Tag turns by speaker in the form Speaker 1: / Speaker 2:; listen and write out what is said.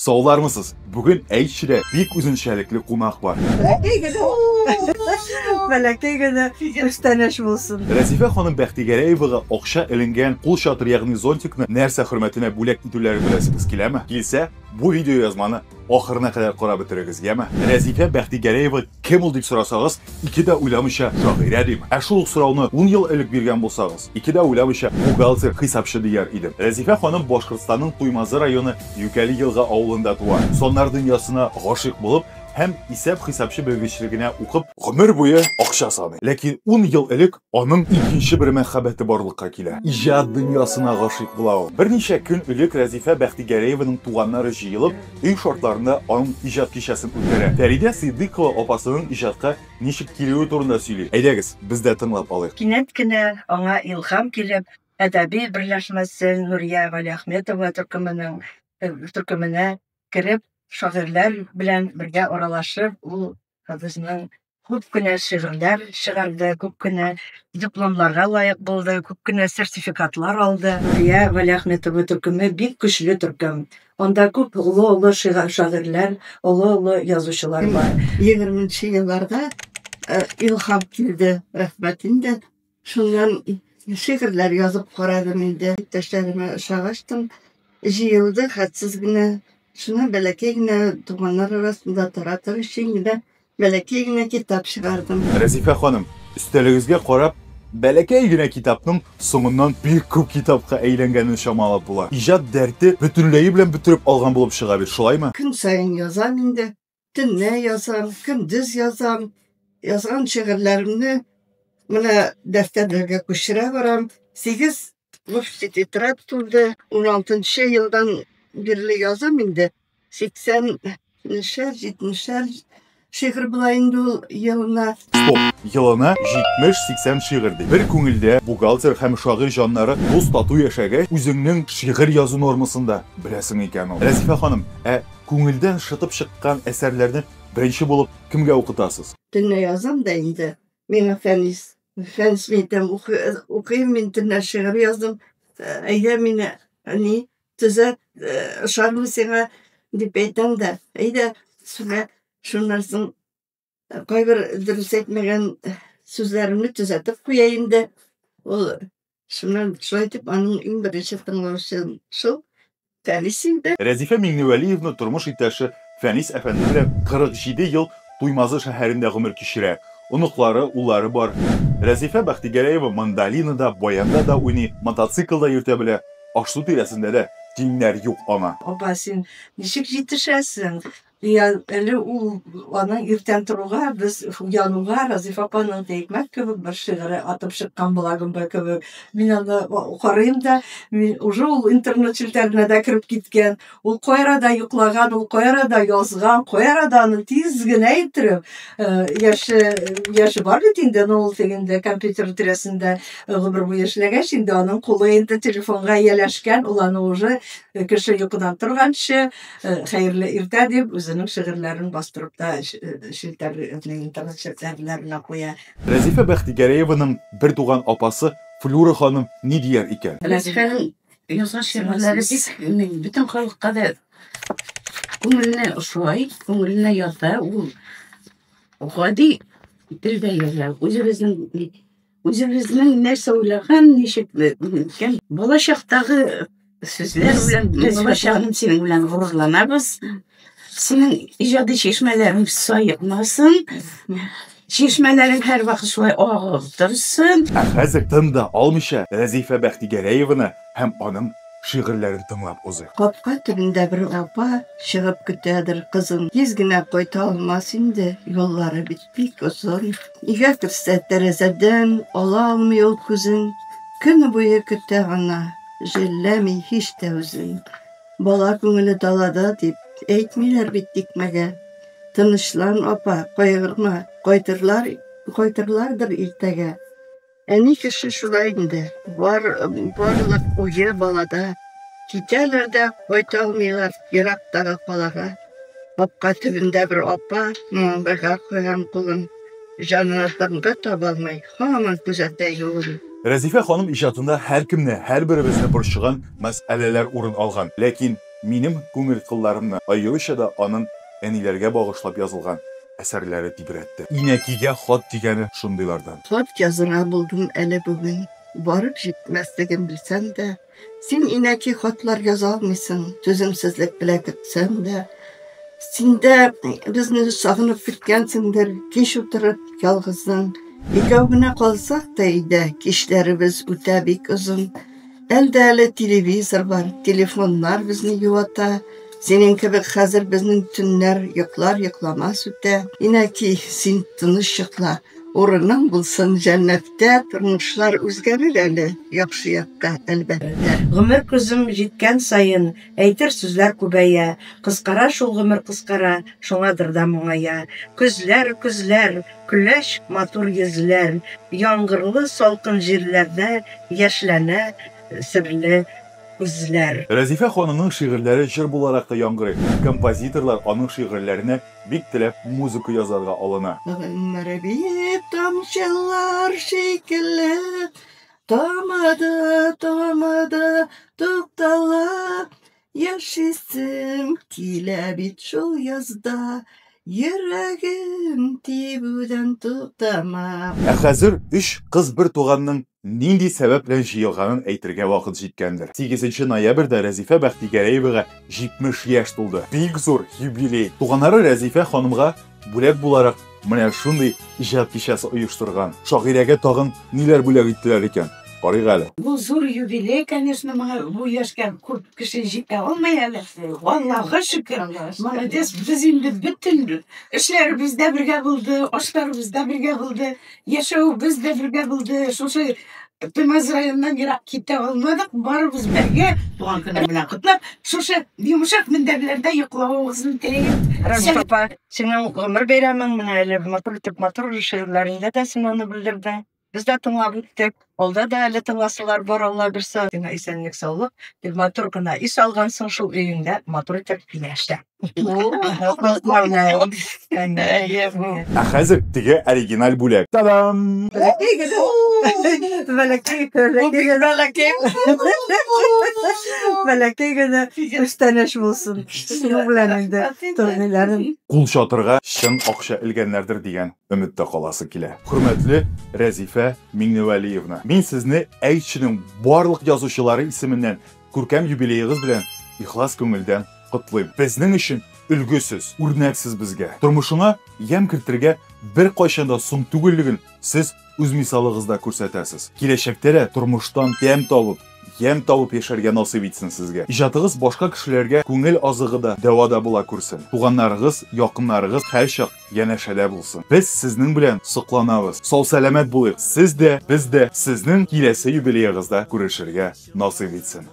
Speaker 1: Саулармысыз! Бүген Әйтчедә бик үзенчәлекле кунак бар.
Speaker 2: Бәләкәй генә, бәләкәй генә күчтәнәч булсын. Рәзифә ханым
Speaker 1: Бәхтигәрәевага акча эленгән кул чатыры ягъни зонтикны нәрсә хөрмәтенә бүләк итүләрен беләсегез киләме? Килсә, бу видеоязманы ахырына кадәр карап бетерегез, яме? Рәзифә Бәхтигәрәева Кем ул дип сорасагыз, ике дә уйламыйча шагыйрә дим. Ә шул ук сорауны 10 ел элек биргән булсагыз, ике дә уйламыйча бухгалтер, хисапчы дияр идем. Рәзифә ханым Башкортстанның Туймазы районы Юкәли Елга авылында туа. Саннар дөньясына гашыйк булып һәм исәп-хисапчы белгечлегенә укып, гомер буе акча саный. Ләкин 10 ел элек аның икенче бер мәхәббәте барлыкка килә. Иҗат дөньясына гашыйк була ул. Берничә көн элек Рәзифә Бәхтигәрәеваның туганнары җыелып, Өй шартларында аның иҗат кичәсен үткәрә. Фәридә Сыйдыйкова апасының иҗатка ничек килүе турында сөйли. Әйдәгез, без дә тыңлап алыйк. Кинәт кенә аңа
Speaker 2: илһам килеп, әдәби берләшмәсе Нурия Галиәхметова төркеменең төркеменә кереп, шагыйрьләр белән бергә аралашып, ул Безнең күп кенә шигырьләр чыгарды, күп кенә дипломнарга лаек булды, күп кенә сертификатлар алды. Нурия Вәлиәхметова төркеме бик көчле төркем. Анда күп олы-олы шагыйрьләр, олы-олы язучылар бар. Егерменче елларга илһам килде, рәхмәт инде. Шуннан шигырьләр язып карадым инде. Иптәшләремә ошагач тын җыелды, хәтсез генә. Шуннан бәләкәй генә туганнар арасында таратыр өчен генә бәләкәй генә китап чыгардым. Рәзифә ханым,
Speaker 1: өстәлегезгә карап, бәләкәй генә китапның соңыннан бик күп китапка әйләнгәнен чамалап була. Иҗат дәрте бөтенләе белән бөтереп алган булып чыга бит, шулаймы? Көн саен язам
Speaker 2: инде. Төнлә язам, көндез язам. Язган шигырьләремне менә дәфтәрләргә күчерә барам. Сигез лушти тетрадь тулды. Уналтынчы елдан бирле язам инде. Сиксән нешәр, җитмешәр шигырь була инде ул елына. Стоп!
Speaker 1: Елына 70-80 шигырь ди. Бер күңелдә бухгалтер һәм шагыйрь җаннары дус-тату яшәгәч, үзеңнең шигырь язу нормасын да беләсең икән ул. Рәзифә ханым, ә Күңелдән шытып чыккан әсәрләрне беренче булып кемгә укытасыз? Төнлә язам да
Speaker 2: инде. Миңа Фәнис. Фәнис мин итәм, укыйм мин, төнлә шигырь яздым. Әйдә мине, әни, төзәт, ошармы сиңа, дип әйтәм дә. Әйдә, сүнә, шуннан соң. Кайбер дөрес әйтмәгән сүзләремне төзәтеп куя инде. Ул шуннан шулай итеп аның иң беренче тыңлаучым шул Фәнис инде. Рәзифә Миңневәлиевна
Speaker 1: тормыш иптәше Фәнис әфәнде белән 47 ел Туймазы шәһәрендә гомер кичерә. Оныклары, уллары бар. Рәзифә Бәхтигәрәева мандолинада, баянда да уйный, мотоцикл да йөртә белә. Аш-су тирәсендә дә тиңнәр юк аңа. Апа, син
Speaker 2: ничек җитешәсең? Я, әле ул аның иртән торуга, без януга Разиф апаның тәйкмәк кебек бер шигыре атып чыккан була гөмбә кебек. Мин аны карыйм да, мин уже ул интернет челтәренә дә кереп киткән. Ул кайрада йоклаган, ул кайрада язган, кайрада аны тиз генә иттереп, э, яше, яше бар бит инде, но ул тегендә компьютер тирәсендә э, гомер буе эшләгәч, инде аның кулы инде телефонга ияләшкән, ул аны уже э, кеше йокыдан торганчы, Хәерле иртә, дип, үзенең шигырьләрен бастырып та челтәрнең интернет челтәрләренә куя. Рәзифә
Speaker 1: Бәхтигәрәеваның бертуган апасы Флюра ханым ни дияр икән? Рәзифәнең
Speaker 3: язган шигырьләре бик бөтен халыкка да күңелне ошый, күңеленә ята. Ул гади телдә яза, үзебезнең Үзебезнең нәрсә уйлаган, ничек икән? Балачактагы сүзләр белән без балачагым синең белән горурланабыз. Синең иҗади чишмәләрең саекмасын. Чишмәләрең һәрвакыт шулай агып торсын. Ә хәзер тын
Speaker 1: да алмыйча Рәзифә Бәхтигәрәеваны һәм аның шигырьләрен тыңлап узыйк. Капка төбендә бер
Speaker 2: апа чыгып көтәдер кызын. Тиз генә кайта алмас инде, юллары бит. Бик озын. Нигә керсә, тәрәзәдән ала алмый ул күзен. Көн буе көтә гына, җәлләми һич тә үзен. Бала күңеле далада дип, әйтмиләр бит тикмәгә. Тынычлан, апа, кайгырма, кайтырлар, кайтырлардыр иртәгә. Әни кеше шулай инде. Бар, барлык уе балада. Китәләр дә кайта алмыйлар ерактагы калага. Капка төбендә бер апа маңгайга куйган кулын җанына тынгы таба алмый, һаман күзәтә юлын. Рәзифә ханым
Speaker 1: иҗатында һәркемне, һәрберебезне борчыган мәсьәләләр урын алган. Ләкин минем күңел кылларымны аеруча да аның әниләргә багышлап язылган, Әсәрләре тибрәтте. Инәкигә хат дигәне шундыйлардан. Хат язырга
Speaker 2: булдым әле бүген. Барып җитмәслеген белсәм дә. Син, инәки, хатлар яза алмыйсың. Түземсезлек белә көтсәм дә. Син дә безне сагынып көткәнсеңдер. Кич утырып, ялгызың. Икәү генә калсак та өйдә. Кичләребез үтә бик озын. Әлдә әле телевизор бар, телефоннар безне юата. Синең кебек хәзер безнең төннәр йоклар йокламас үтә. Инәки, син тыныч йокла. Урының булсын җәннәттә. Тормышлар үзгәрер әле яхшы якка, әлбәттә. Гомер көзем
Speaker 4: җиткән саен. Әйтер сүзләр күбәя, Кыскара шул гомер кыскара, Шуңадыр да моңая. Көзләр, көзләр, Көләч, матур йөзләр, Яңгырлы, салкын җирләрдә Яшьләнә серле күзләр. Рәзифә ханымның
Speaker 1: шигырьләре җыр буларак та яңгырый, композиторлар аның шигырьләренә бик теләп музыка язарга алына. Гомер
Speaker 2: бит тамчылар шикелле, Тормады, тормады, туктала, яшисем килә бит шул язда. Йөрәгем тибүдән туктама. Ә хәзер
Speaker 1: өч кыз бер туганның нинди сәбәп белән җыелганын әйтергә вакыт җиткәндер. 8 ноябрьдә Рәзифә Бәхтигәрәевага 70 яшь тулды. Бик зур юбилей. Туганнары Рәзифә ханымга Бүләк буларак менә шундый иҗат кичәсе оештырган шагыйрәгә тагын ниләр бүләк иттеләр икән, карыйк әле. Бу зур юбилей,
Speaker 3: конечно, моңа бу яшькә күп кеше җитә алмый әле. Аллага шөкер, молодец, без инде бөтен эшләребез дә бергә булды, ашларыбыз да бергә булды. Яшәвебез дә бергә булды. Шушы Туймаз районыннан ерак китә алмадык. Барыбыз бергә туган көне белән котлап, шушы йомшак мендәрләрдә йоклавыгызны телим. Рәмис апа,
Speaker 4: синең гомер бәйрәмең менә әле матур итеп матур җырларыңда да син аны белдердең. Без дә тыңлап үттек. Алда да әле тыңласылар бар, Алла бирсә, генә исәнлек саулык, бик матур гына ис алгансың шул өеңдә, матур итеп яшә.
Speaker 1: Ә хәзер теге оригиналь бүләк. Та-дам!
Speaker 4: Бәләкәй генә күчтәнәч булсын. Шуның белән инде турниларым. Кул чатырга
Speaker 1: чын акча элгәннәрдер дигән. Өметтә каласы килә. Хөрмәтле Рәзифә Миңневәлиевна, мин сезне Әйтченең барлык язучылары исеменнән күркәм юбилеегыз белән ихлас күңелдән котлыйм. Безнең өчен өлге сез, үрнәк сез безгә. Тормышыңа ямь кертергә беркайчан да соң түгеллеген сез үз мисалыгызда күрсәтәсез. Киләчәктә дә тормыштан тәм табып, ямь табып яшәргә насыйп итсен сезгә. Иҗатыгыз башка кешеләргә күңел азыгы да, дәва да була күрсен. Туганнарыгыз, якыннарыгыз һәрчак Янәшәдә булсын. Без сезнең белән сокланабыз. Сау-сәламәт булыйк. Сез дә, без дә. Сезнең киләсе юбилеегызда күрешергә насыйп итсен.